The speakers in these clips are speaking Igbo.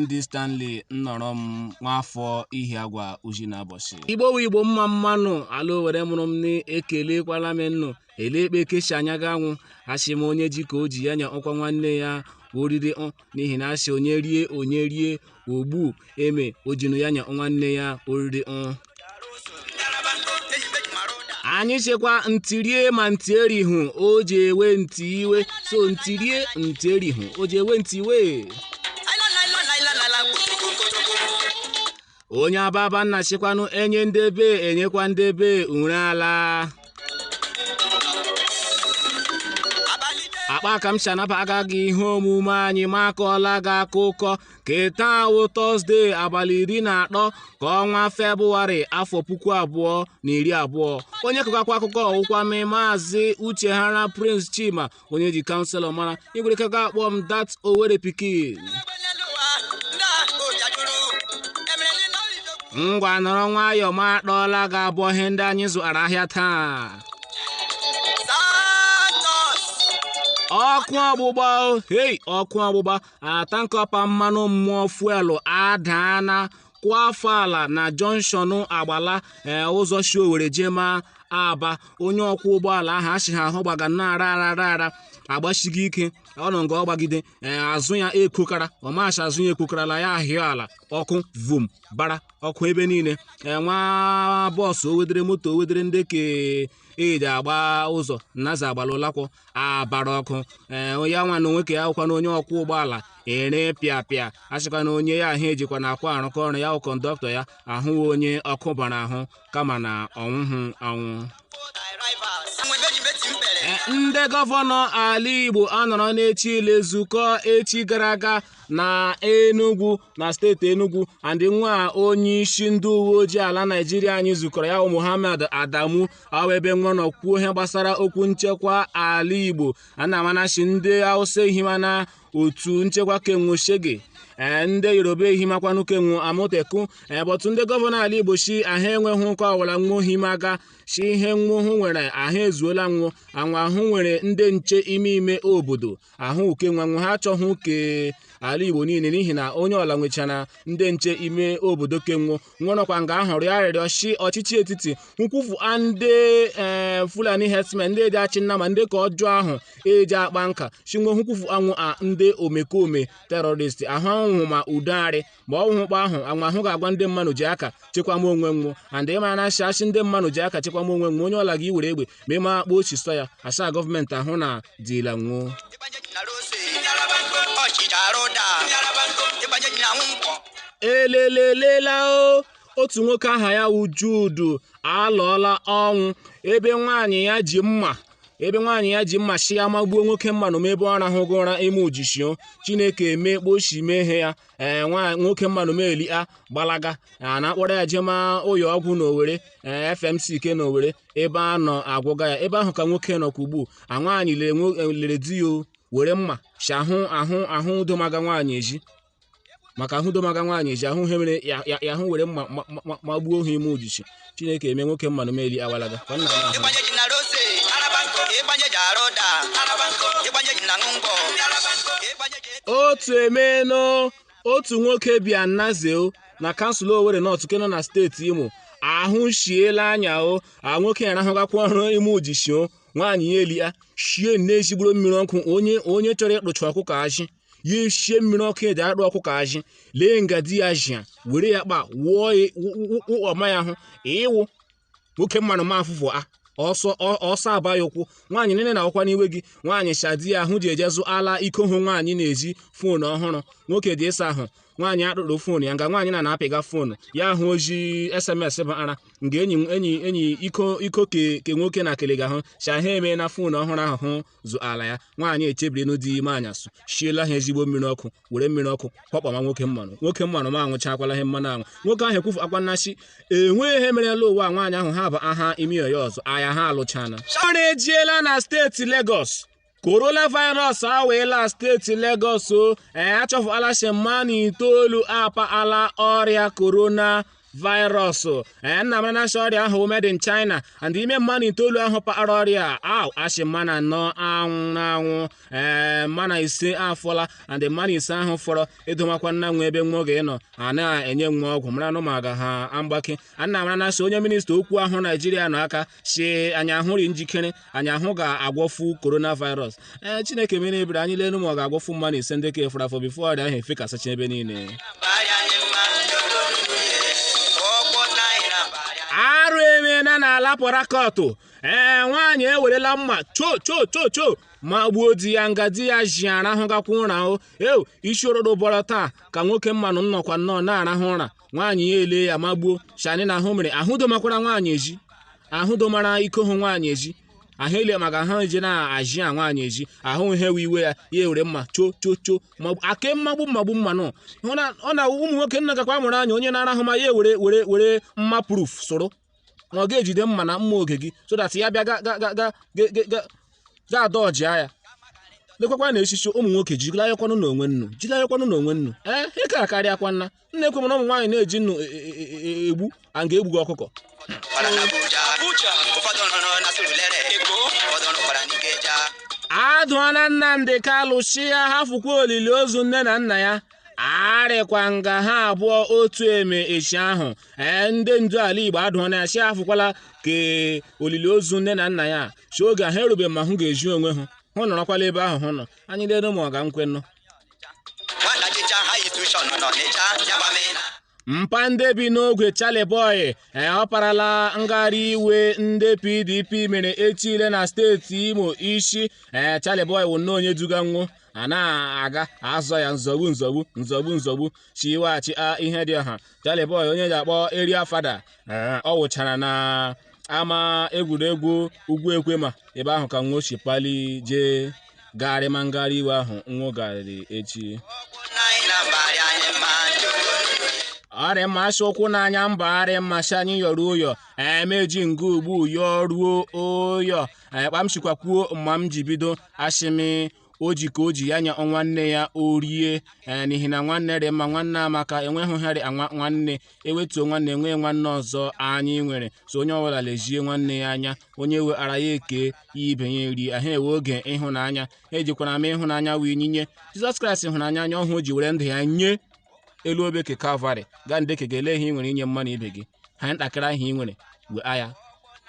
ND Stanley Nnorom nwafọ Ihiagwa Uzi na Abọshị igbo wu igbo mma mma nụ ala owere mụrụ m na-ekelekwala m nnụ ele ekpe kechi anya ga anwụ asị m onye ji ka o ji ya nyekwa nwanne ya oriri ọ n'ihi na asị onye rie onye rie ogbu eme ojinu ya nye nwanne ya oriri ọ anyị shịkwa nti rie ma nti erihu o ji ewe nti iwe so nti rie nti erihu o ji ewe nti iwe onye ababa nna shịkwanụ enye ndị ebe enyekwa ndị ebe ure ala akpa ka m si anabaga gị ihe omume anyị ma akọọla gị akụkọ ke taa wụ tọzde abalị iri na atọ ke ọnwa febụwarị afọ puku abụọ na iri abụọ onye kọgakwa akụkọ wụkwa m maazị uche hara prince chima onye ji kanselọ mara igwerekaka akpọ m dat owere pikin ngwa nọrọ nwayọọ ma akpọọla gị abụ ihe ndị anyị zụara ahịa taa ọkụ ọgbụgba o, hei ọkụ ọgbụgba tanka pa mmanụ mmụọ fuelu adaana kwafuo ala na jọnshọnụ agbala ee ụzọ shi owere jee ma aba onye ọkwọ ụgbọala ahụ asị ha ahụ gbaga na-ara ara ara ara agbasiga ike ọ nọ nga ọ gbagide ee azụ ya ekokara ọmachi azụ ya ekokarala ya ahịa ala ọkụ vum bara ọkụ ebe niile ee nwa bọọsụ owedere moto owedere ndị ke eji agba ụzọ Naze Agbala Ụlakwọ abara ọkụ ee onye nwa na onwe ka ya hụkwa na onye ọkwọ ụgbọala ere pịa pịa asịkwa na onye ya ahụ ejikwa na akwa arụkọ ọrụ ya wụ kọndọktọ ya awụ onye ọkụ bara ahụ kama na ọ nwụhụ anwụ E, ndị gọvanọ ala igbo anọrọ n'echi ile zukọ echi gara aga na enugwu na steeti Enugu and nwa onye isi ndị uwe ojii ala Naịjirịa anyị zukọrọ ya bụ Muhammad Adamu a wụ ebe nwo nọ kwuo ihe gbasara okwu nchekwa ala Igbo a na-ama na shị ndị Hausa ehimana otu nchekwa ke nwo Shege ee ndị yoruba ehimakwanụ ke nwo Amotekun ee bọtụ ndị gọvanọ ala igbo shi ahụ enweghị uke ọwụla nwo ehimaga shi ihe nwo hụ nwere ahụ ezuola nwo anwa ahụ nwere ndị nche ime ime obodo ahụ uke nwo nwe ha achọghị uke ala igbo niile n'ihi na onye ọla nwechara ndị nche ime obodo ke nwo nwerọkwa nga ahụ rịọ arịrịọ si ọchịchị etiti kwufuo ndị eh, fulani herdsmen ndị eji achị nama ndị aka ọjọọ ahụ eji akpa nka si nwo kwufuo nwo a ndị omekome terọrist ahụ a wụ ma udo arị ma ọ wụ kpa ahụ anwa ahụ ga-agwa ndị mmanụ ji aka chekwama onwe nwụ and ịma na a shị a shị ndị mmanụ ji aka chekwama onwe nwụ onye ọla gị were egbe ma mma kpa oshi sọ ya asa gọọmenti ahụ na dila nwụ o elelelela o otu nwoke aha ya wụ Jude alụọla ọnwụ ebe nwaanyị ya ji mma ebe nwaanyị ya ji mma shi ya magbuo nwoke mmanụ m ebe ọ rahụga ụra ime ujishi o Chineke emekpochi mehie ya ee nwa nwoke mmanụ m elia gbalaga a na-akpọrọ ya jema ụyọ ọgwụ n'owere ee fmc ke n'owere ebe a nọ agwọga ya ebe ahụ ka nwoke nọ ka ugbu a nwaanyị lere nwo- lere di ya o, were mma si ahụ ahụ ahụ udomaga nwaanyị ezi maka ahụ udomaga nwaanyị ezi ahụ ihe mere ya ya- ya ahụ were mma ma- ma- ma- ma gbuo ha ime ujishi chineke eme nwoke mmanụ m elia gbalaga ka ọ nna ya ahụ ịgbanye ji na rose ịgbanye ji arụ ụda ịgbanye ji na ṅụ ngwọ ịgbanye ji otu emenụ otu nwoke bi na naze o na kansụl owere nọt nke nọ na steeti imo ahụshiela anya o a nwoke ya rahụgakwa ụra ime ujishi o nwaanyị ya elia shie nne ezigbo mmiri ọkụ onye onye chọrọ ịkpụcha ọkụkọ ajị ya eshie mmiri ọkụ eji arụ ọkụkọ ajị lee nga di ya jia were ya kpa wụọ ya wụ- wụ- wụ ọma ya ahụ ịwụ nwoke mmanụ m afụfụ a ọsọ ọ- ọsọ aba ya ụkwụ nwaanyị nene na ọkwa n'iwe ji nwaanyị shị di ya ahụ ji eje zụala iko hụ nwaanyị ezi foonu ọhụrụ nwoke je ịsa ahụ nwaanyị akpụrụ foonu ya nga nwaanyị na na-apịga foonu ya ahụ oji sms bụ ara nga enyi enyi enyi iko iko ke ke nwoke na-ekelega hụ shahe eme na foonu ọhụrụ ahụ hụ zụala ya nwaanyị echebirinu di ime anyasụ shiela ha ezigbo mmiri ọkụ were mmiri ọkụ kwakpama nwoke mmanụ nwoke mmanụ m anwụchakwala ihe mmanụ anwụ nwoke ahụ ekwufuakwa na shị enweghị ihe merela ụwa nwaanyị ahụ ha bụ aha ime ya ọzọ aya ha alụchana ọrụ ejiela na steeti Lagos coronavirus awaala steeti Lagos o achọfụala shị mmanụ itoolu apaala ọrịa korona virus ee nna mara na a shị ọrịa ahụ made in China and ime mmanụ itoolu ahụ paara ọrịa ahụ a shị mmanụ anọ anwụ anwụ ee mmanụ ise afọla and mmanụ ise ahụ fọrọ edomakwana nwụ ebe nwụ ga-anọ a na-enye nwụ ọgwụ mara nụ ma ga ha mgbake anna mara na a shị onye minista okwu ahụ Naijiria nọ aka si anyị ahụrị njikere anyị ahụ ga-agwọfu coronavirus ee chineke mere ebere anyị lelu ma ọ ga-agwọfu mmadụ ise ndị ka fọrọ afọ bifo ọrịa ahụ efekasịcha ebe niile arụ emeela n'ala pọtakọtụ ee nwaanyị ewerela mma cho cho cho cho ma gbuo di ya nga di ya jia rahụgakwa ụra o eu isi orodo bọrọ taa ka nwoke mmanụ m nọkwa nnọọ na-arahụ ụra nwaanyị ya ele ya magbuo shani na ahụ mere ahụ domakwara nwaanyị eji ahụ domara iko hụ nwaanyị eji ahụ ele maka ahụ eje na-aji a nwaanyị eji ahụ ihe we iwe ya ya ewere mma cho cho cho magbu ake mmagbu mmagbu mma nọ Hụ na- ọ na ụmụ nwoke nna gakwa mụrụ anya onye na-arahụ ma ya ewere were were mma proof soro na ọ ga-ejide mma na mma oge gị so that ya bịa ga ga ga ga ga- ga- ga- ga adọjia ya lekwakwa na echichi ụmụ nwoke jilayakwanụ n'onwe nnu jilayakwanụ n'onwe nnu ee ị ka akarịakwa nna nna ekwe na ụmụ nwaanyị na-eji nnu e- e- e- e- egbu a ga-egbuga ọkụkọ Nọrọ n'Abuja. Abuja. Ụfọdụ nọrọ na Surulere. Eko. Ụfọdụ nọkwara n'Ikeja. adụọla nnamdi kalu sị ya hafụkwa olili ozu nne na nna ya arịkwa nga ha abụọ otu eme echi ahụ ee ndị ndu ala igbo adụọla ya sị hafụkwala ka olili ozu nne na nna ya sị oge ha erube ma hụ ga-ezi onwe ha hụ nọrọkwala ebe ahụ hụ nọ anyị lere ma ọ ga nkwenụ mpa ndị bi n'ogwe Charly Boy ọparala ngagharị iwe ndị PDP mere echi le na steeti Imo isi Charly Boy wụ nnọọ onye duga nwụ a na-aga azọ ya nzọgbu nzọgbu nzọgbu nzọgbu sị weghachi Ihedioha Charly Boy onye eji akpọ Area Fada Ee, ọ wụchara na ama egwuregwu ugwu ekwema ebe ahụ ka nwụ si pali jee gagharịma ngagharị iwe ahụ nwụ garịrị echi ọrịa mmasị ụkwụ n'anya mba arịa mmasị anyị yọrọ ụyọ emeji nga ugbu yọọ ruo ụyọ anyị kpamsikwakwuo mma m ji bido asịmị o ji ka o ji ya nye nwanne ya o rie ee n'ihi na nwanne dị mma nwanne amaka enweghị harị anwa nwanne ewetuo nwanne enweghị nwanne ọzọ anyị nwere so onye ọbụla lezie nwanne ya anya onye nwetara ya eke ya ibe ya eri ahụ ewe oge ịhụnanya ejikwara m ịhụnanya wee nyinye jizọs kraịst hụrụ anyị n'anya ọ hụ o ji were ndụ ya nye elu obe ke kalvarị gaa ndeke ga ele ihe ị nwere inye mmadụ ibe gị ha ntakịrị ahụ ị nwere were ya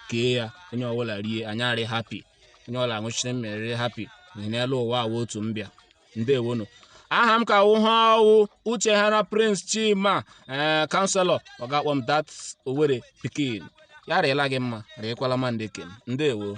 kee ya onye ọbụla rie anyị arị happy onye ọla nwụchiri mmeri happy n'ihi na elu ụwa a wụ otu mbịa ndewonu aha m ka wụ ha ọ wụ uchehara prince chima ee counsellor ọ ga-akpọ m dat owerri pikin ya rịla gị mma rịkwala ma ndị ke m ndewo